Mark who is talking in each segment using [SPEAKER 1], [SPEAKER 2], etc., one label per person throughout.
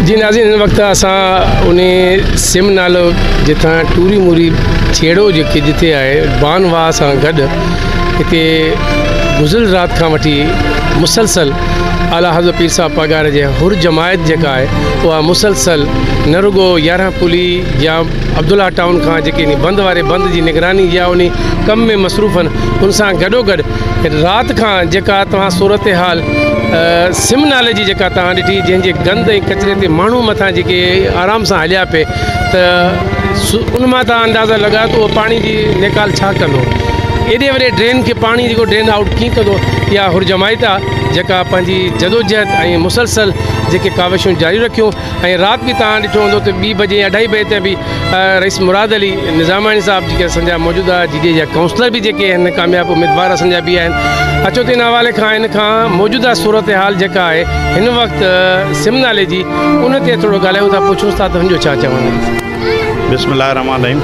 [SPEAKER 1] جي ناظرين هن وقت اسان ان سم نالو جتان ٽوري موري ڇيڙو جيڪي جتي آهي بان واء سان گڏ هتي گذل رات کان وٺي مسلسل اعليٰ حضرت پير صاحب پاڳاري جي حر جماعت جيڪا آهي اها مسلسل نه رڳو يارهن پلي يا عبدالله ٽائون کان جيڪي بند واري بند جي نگراني يا ان ڪم ۾ مصروف آهن ان سان گڏو گڏ رات کان جيڪا توهان صورتحال سم نالي جي جيڪا توهان ڏٺي جنهن جي گند ۽ ڪچري تي ماڻهو مٿان جيڪي آرام سان هليا پئي ته ان مان توهان اندازا لڳايو ته اهو پاڻي جي نيڪال ڇا ڪندو ايڏي وڏي ڊرين کي پاڻي جيڪو ڊرين آئوٽ ڪيئن ڪندو اها هرجمائيت آهي جيڪا پنهنجي جدوجهد ۽ مسلسل جيڪي ڪاوشون جاري رکيون ۽ رات به توهان ڏٺو هوندو ته ٻي بجي يا اڍائي بجي تائين به رئيس مراد علي نظاماڻي صاحب جيڪي اسان جا موجوده جي ڊي جا ڪائونسلر به جيڪي آهن ڪامياب اميدوار اسان جا به آهن اچو ته ان حوالي کان ان کان موجوده صورتحال جيڪا آهي هن وقت سم نالي جي ان تي ٿورو ڳالهايون ٿا پڇون ٿا ته هن جو ڇا چوڻ آهي. بسم الله الرحمن الرحيم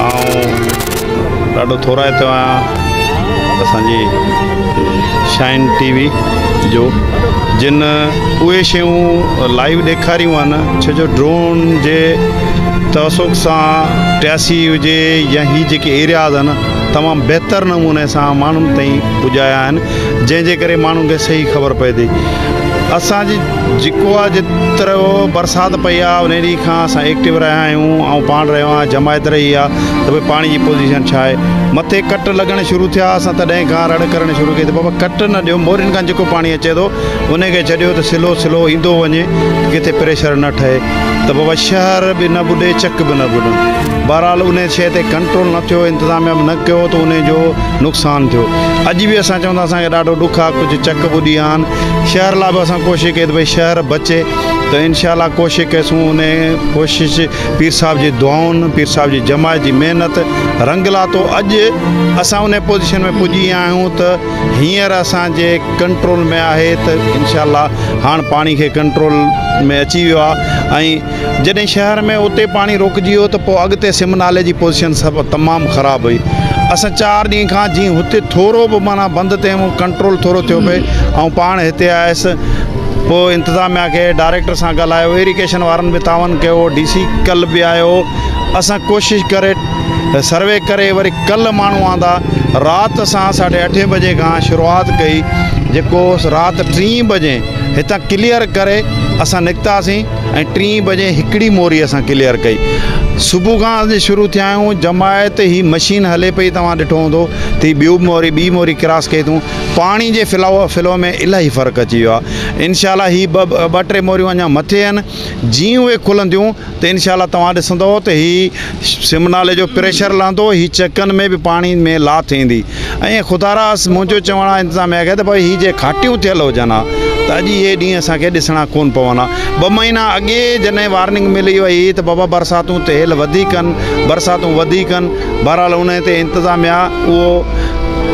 [SPEAKER 2] آئون ڏاڍو ٿورائتو آهيان اسان جي شائن ٽي وي جو جن اهي شيون لائيو ڏيکاريون آهن ڇو جو ڊرون جي توسڪ سان ٽياسي هجي يا هي جيڪي ايرياز آهن تمام بهتر نموني سان ماڻهن تائين پڄايا آهن جنهن جي ڪري ماڻهن کي صحيح خبر پئي ٿي اسان جي جيڪو آ جيترو برسات پئي آ انهي ڏينهن کان اسان ايڪٽيو رهيا آهيون آئون پاڻ رهيو آهيان جماعت رهي آ ته ڀئي پاڻي جي پوزيشن ڇا آهي مٿي ڪٽ لڳڻ شروع ٿيا اسان تڏهن کان رڙ ڪرڻ شروع ڪئي ته بابا ڪٽ نه ڏيو مورين کان جيڪو پاڻي اچي ٿو انهي کي ڇڏيو ته سلو سلو ايندو وڃي ڪٿي پريشر نه ٺهي ته بابا شهر به نه ٻڏي چڪ به نه ٻڏن بهرحال انهي شئي تي ڪنٽرول نه ٿيو انتظاميا به نه ڪيو ته انهي جو نقصان ٿيو اڄ به اسان چون ٿا اسان کي ڏاڍو ڏک آ ڪجهه چڪ ٻڏي آهن شهر لا به اسان ڪوشش ڪئي ته ڀئي شهر بچي ته انشاء الله ڪوشش ڪيسون ان ڪوشش پير صاحب جي دعائن پير صاحب جي جماعت جي محنت رنگ لاتو اڄ اسان ان پوزيشن ۾ پڄي آهيون ته هينئر اسان جي ڪنٽرول ۾ آهي ته انشاء الله هاڻ پاڻي کي ڪنٽرول ۾ اچي ويو آهي ۽ جڏهن شهر ۾ اتي پاڻي روڪجي ويو ته پوء اڳتي سم نالي جي پوزيشن سڀ تمام خراب هئي اسان چار ڏينهن کان جي هتي ٿورو به معنيٰ بند تي هيون ڪنٽرول ٿورو ٿيو پئي آئون پاڻ هتي آيس پوء انتظاميا کي ڊائريڪٽر سان ڳالهايو ايريڪيشن وارن به تعاون ڪيو ڊي سي ڪل به آيو اسان ڪوشش ڪري سروي ڪري وري ڪل ماڻهو آندا رات اسان ساڍي اٺين بجي کان شروعات ڪئي جيڪو رات ٽين بجي هتان ڪليئر ڪري اسان نڪتاسين ۽ ٽين بجي هڪڙي موري اسان ڪليئر ڪئي صبح کان اسين شروع ٿيا آهيون جماعت هي مشين هلي پئي توهان ڏٺو هوندو تي ٻيو موري ٻي موري ڪراس ڪئي اٿون پاڻي جي فلا فلو ۾ الاهي فرق اچي ويو آهي انشاء الله هي ٻه ٻه ٽي موريون اڃا مٿي آهن جي اهي کلنديون ته انشاء الله توهان ڏسندو ته هي سمنالي جو پريشر لهندو هي چڪن ۾ به پاڻي ۾ لاٿ ايندي ائين خدا راس منهنجو چوڻ آ انتظاميه کي ته ڀائي هي جي گهاٽيون ٿيل هجن ها ته اڄ اهي ڏينهن اسان کي ڏسڻا ڪون پون ها ٻه مهينا اڳي جڏهن وارننگ ملي وئي هئي ته بابا برساتون تهيل وڌيڪ هن برساتون وڌيڪ هن بهرحال ان تي انتظاميه اهو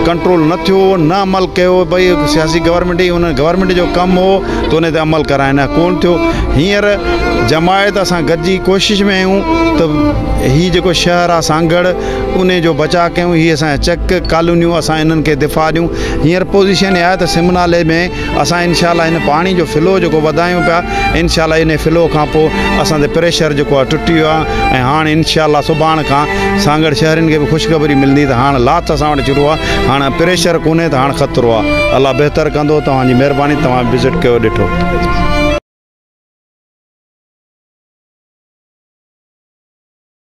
[SPEAKER 2] ڪنٽرول نه ٿيو نه عمل ڪيو ڀئي سياسي گورنمينٽ هي ان گورنمينٽ جو ڪم هو ته ان تي عمل ڪرائن ڪون ٿيو هينئر جماعت اسان گڏجي ڪوشش ۾ آهيون ته هي جيڪو شهر آ سانگهڙ انهي جو بچاء ڪيون هي اسان جا چيڪ ڪالونيون اسان انهن کي دفاع ڏيون هينئر پوزيشن اها آهي ته سم نالي ۾ اسان انشاء الله هن پاڻي جو فلو جيڪو وڌايون پيا انشاء الله انهي فلو کان پوء اسان تي پريشر جيڪو آهي ٽٽي ويو آهي ۽ هاڻ انشاء الله سڀاڻ کان سانگهڙ شهرين کي به خوشخبري ملندي ته هاڻ لاٿ اسان وٽ شروع آهي هاڻ پريشر ڪونهي ته هاڻ خطرو آهي الله بهتر ڪندو توهان جي مهرباني توهان وزٽ ڪيو ڏٺو